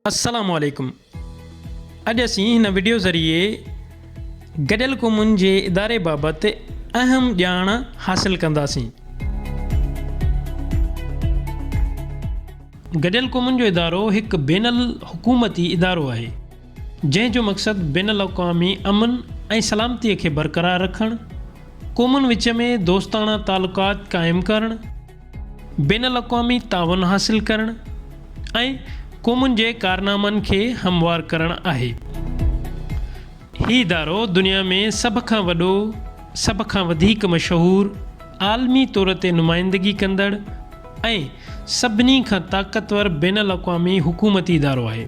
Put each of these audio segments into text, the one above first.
السلام عليڪم اڄ اسين هن وڊيو ذريعي گڏيل قومن جي اداري بابت اهم ڄاڻ حاصل ڪنداسين گڏيل قومن جو ادارو هڪ بين الحڪومتي ادارو آهي جنهن جو مقصد بين الاقوامي امن ۽ سلامتي کي برقرار رکڻ، قومن وچ ۾ دوستاڻا تعلقات قائم ڪرڻ، بين الاقوامي تعاون حاصل ڪرڻ ۽ قومن جي ڪارنامن کي هموار ڪرڻ آهي. هي ادارو دنيا ۾ سڀ کان وڏو، سڀ کان وڌيڪ مشهور، عالمي طور تي نمائندگي ڪندڙ ۽ سڀني کان طاقتور بين الاقوامي حڪومتي ادارو آهي.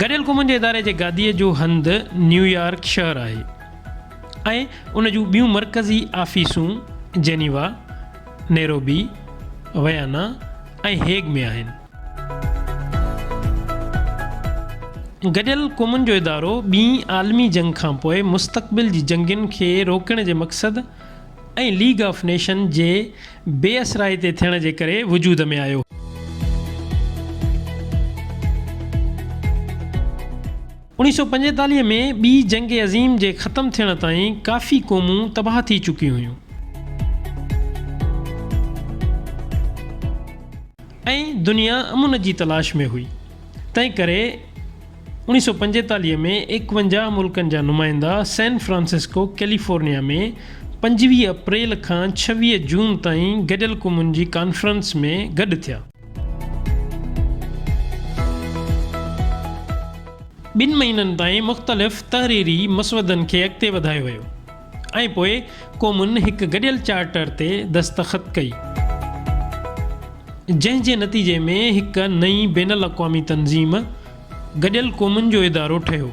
گڏيل قومن جي اداري جي گاديء جو هنڌ نيويارڪ شهر آهي ۽ ان جون ٻيون مرڪزي آفيسون جنيوا، نيروبي، ويانا ۽ هيگ ۾ آهن. گڏيل قومن جو ادارو ٻين عالمي جنگ کانپوء مستقبل جي جنگين کي روڪڻ جي مقصد ۽ ليگ آف نيشن جي بي اثرائي تي ٿيڻ جي ڪري وجود ۾ آيو. اوڻيھ سؤ پنجيتاليھ ۾ ٻي جنگ عظيم جي ختم ٿيڻ تائين ڪافي قومون تباھ ٿي چڪيون ھيون. ۽ دنيا امن جي تلاش ۾ ھئي تنھنڪري. اڻيهه سؤ پنجيتاليهه ۾ ايڪونجاهه ملڪن جا نمائندا سين فرانسسڪو ڪيليفورنيا ۾ پنجويهه اپريل کان ڇويهه جون تائين گڏيل قومن جي ڪانفرنس ۾ گڏ ٿيا. ٻن مهينن تائين مختلف تحريري مسودن کي اڳتي وڌايو ويو. ۽ پوء قومن هڪ گڏيل چارٽر تي دستخط ڪئي، جنهن جي نتيجي ۾ هڪ نئين بين الاقوامي تنظيم گڏيل قومن جو ادارو ٺهيو،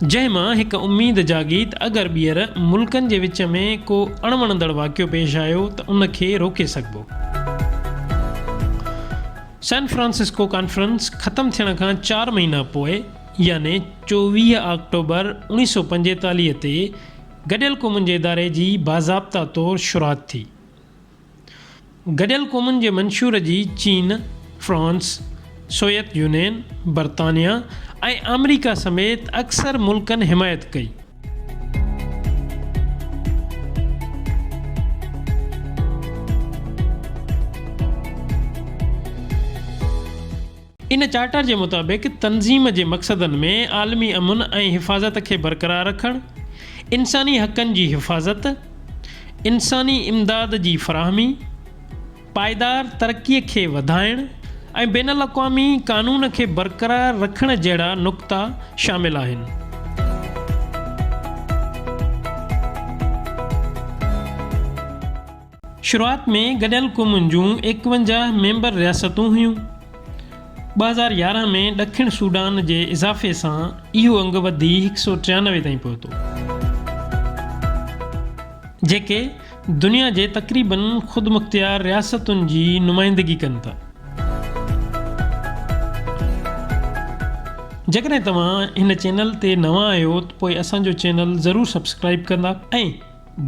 جنهن مان هڪ اميد جاڳيت اگر ٻيهر ملڪن جي وچ ۾ ڪو اڻ وڻندڙ واقعو پيش آيو ته ان کي روڪي سگهبو. سان فرانسسڪو ڪانفرنس ختم ٿيڻ کان چار مهينا پوء، يعني چوويهه آڪٽوبر اوڻيهه سؤ پنجيتاليهه تي گڏيل قومن جي اداري جي باضابطه طور شروعات ٿي. گڏيل قومن جي منشور جي چين، فرانس، سويت يونين، برطانيا ۽ آمريڪا سميت اڪثر ملڪن حمايت ڪئي. ان چارٽر جي مطابق تنظيم جي مقصدن ۾ عالمي امن ۽ حفاظت کي برقرار رکڻ، انساني حقن جي حفاظت، انساني امداد جي فراهمي، پائيدار ترقي کي وڌائڻ ۽ بين الاقوامي قانون کي برقرار رکڻ جهڙا نقطا شامل آهن. شروعات ۾ گڏيل قومن جون ايڪونجاهه ميمبر رياستون هيون. ٻه هزار يارهن ۾ ڏکڻ سوڊان جي اضافي سان اهو انگ وڌي هڪ سؤ ٽيانوي تائين پهتو. جيڪي دنيا جي تقريبن خودمختيار رياستن جي نمائندگي ڪن ٿا. جيڪڏهن توهان هن چينل تي نوان آهيو ته پوء اسان جو چينل ضرور سبسڪرائيب ڪندا ۽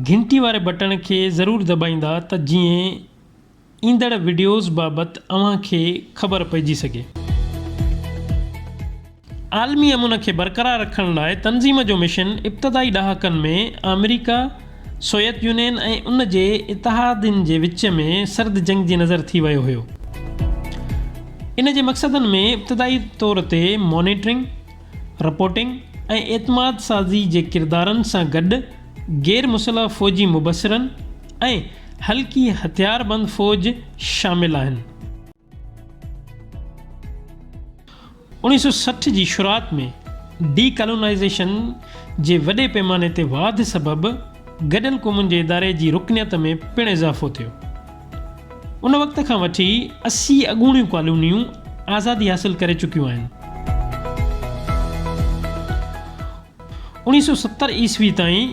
گهنٽي واري بٽڻ کي ضرور دٻائيندا ته جيئن ايندڙ وڊيوز بابت اوهان کي خبر پئجي سگهي. عالمي امن کي برقرار رکڻ لاء تنظيم جو مشن ابتدائي ڏهاڪن ۾ آمريڪا، سويت يونين ۽ ان جي اتحادين جي وچ ۾ سرد جنگ جي نظر ٿي ويو هيو. ان جي مقصدن ۾ ابتدائي طور تي مانيٽرنگ، رپورٽنگ ۽ اعتماد سازي جي ڪردارن سان گڏ غير مسلح فوجي مبصرن ۽ هلڪي هٿياربند فوج شامل آهن. اوڻيهه سؤ سٺ جي شروعات ۾ ڊي ڪالونائيزيشن جي وڏي پيماني تي واڌ سبب، گڏيل قومن جي اداري جي رڪنيت ۾ پڻ اضافو ٿيو. ان وقت کان وٺي اسي اڳوڻيون ڪالونيون آزادي حاصل ڪري چڪيون آهن. اوڻيهه سؤ ستر عيسوي تائين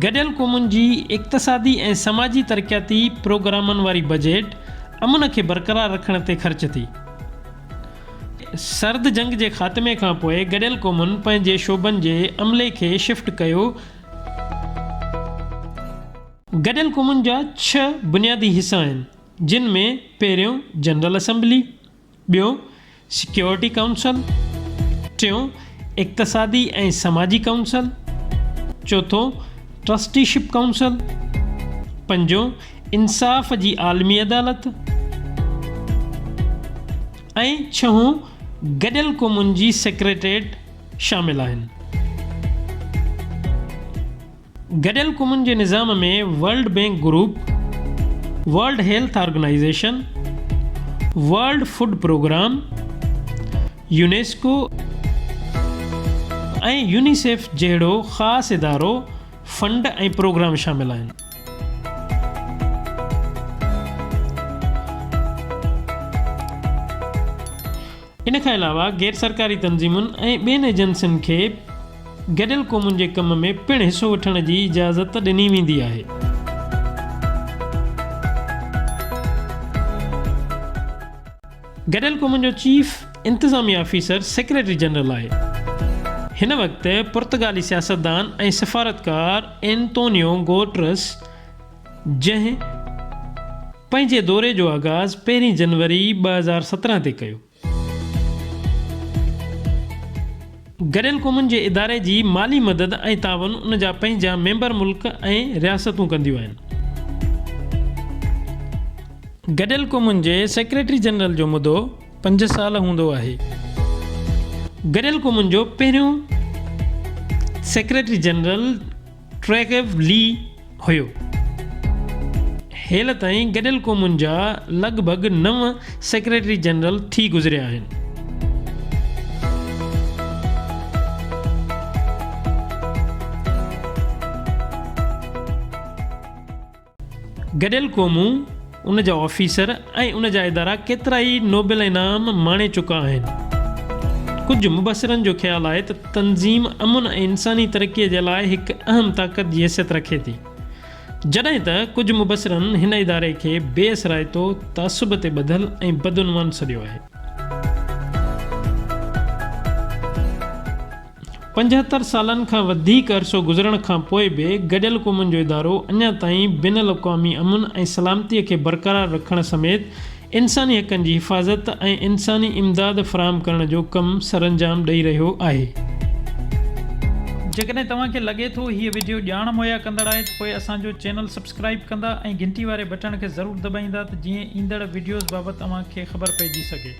گڏيل قومن جي اقتصادي ۽ سماجي ترقياتي پروگرامن واري بجيٽ امن کي برقرار رکڻ تي خرچ ٿي. سرد جنگ جي خاتمي کان پوء گڏيل قومن پنهنجي شعبن جي عملي کي شفٽ ڪيو گڏيل قومن جا ڇهه بنيادي حصا آهن، جن ۾ پهريون جنرل اسيمبلي، ٻيو سيڪيورٽي ڪائونسل، ٽيون اقتصادي ۽ سماجي ڪائونسل، چوٿون ٽرسٽي شپ ڪائونسل، پنجون انصاف جي عالمي عدالت ۽ ڇهون گڏيل قومن جي سيڪريٽريٽ شامل آهن. گڏيل قومن جي نظام ۾ World Bank group, World Health Organization, World Food Programme, UNESCO ۽ UNICEF جهڙو خاص ادارو، فنڊ ۽ پروگرام شامل آهن. ان کان علاوه غير سرڪاري تنظيمن ۽ ٻين ايجنسين کي گڏيل قومن جي ڪم ۾ پڻ حصو وٺڻ جي اجازت ڏني ويندي آهي. گڏيل قومن جو چيف انتظامي آفيسر سيڪريٽري جنرل آهي. هن وقت پرتگالي سياستدان ۽ سفارتڪار اينتونيو گوٽرس، جنهن پنهنجي دوري جو آغاز پهرين جنوري ٻه هزار سترهن تي ڪيو. گڏيل قومن جي اداري جي مالي مدد ۽ تعاون ان جا پنهنجا ميمبر ملڪ ۽ رياستون ڪنديون آهن. گڏيل قومن جي سيڪريٽري جنرل جو مدو پنج سال هوندو آهي. گڏيل قومن جو پهريون سيڪريٽري جنرل. ٽريگيو لي هيو. هيل تائين گڏيل قومن جا لڳ ڀڳ نو سيڪريٽري جنرل ٿي گذريا آهن. گڏيل قومون، ان جا آفيسر ۽ ان جا ادارا ڪيترائي نوبل انعام ماڻي چڪا آهن. ڪجهه مبصرن جو خيال آهي ته تنظيم امن ۽ انساني ترقي جي لاء هڪ اهم طاقت جي حيثيت رکي ٿي. جڏهن ته ڪجهه مبصرن هن اداري کي بي اثرائتو، تعصب تي ٻڌل ۽ بدعنوان سڏيو آهي. پنجهتر سالن کان وڌيڪ عرصو گذرڻ کان پوء به گڏيل قومن جو ادارو اڃا تائين بين الاقوامي امن ۽ سلامتي کي برقرار رکڻ سميت انساني حقن جي حفاظت ۽ انساني امداد فراهم ڪرڻ جو ڪم سرانجام ڏئي رهيو آهي. جيڪڏهن توهان کي لڳي ٿو هيء وڊيو ڄاڻ مهيا ڪندڙ آهي ته پوء اسان جو چينل سبسڪرائيب ڪندا ۽ گهنٽي واري بٽڻ کي ضرور دٻائيندا ته جيئن ايندڙ وڊيوز بابت اوهان کي خبر پئجي سگهي.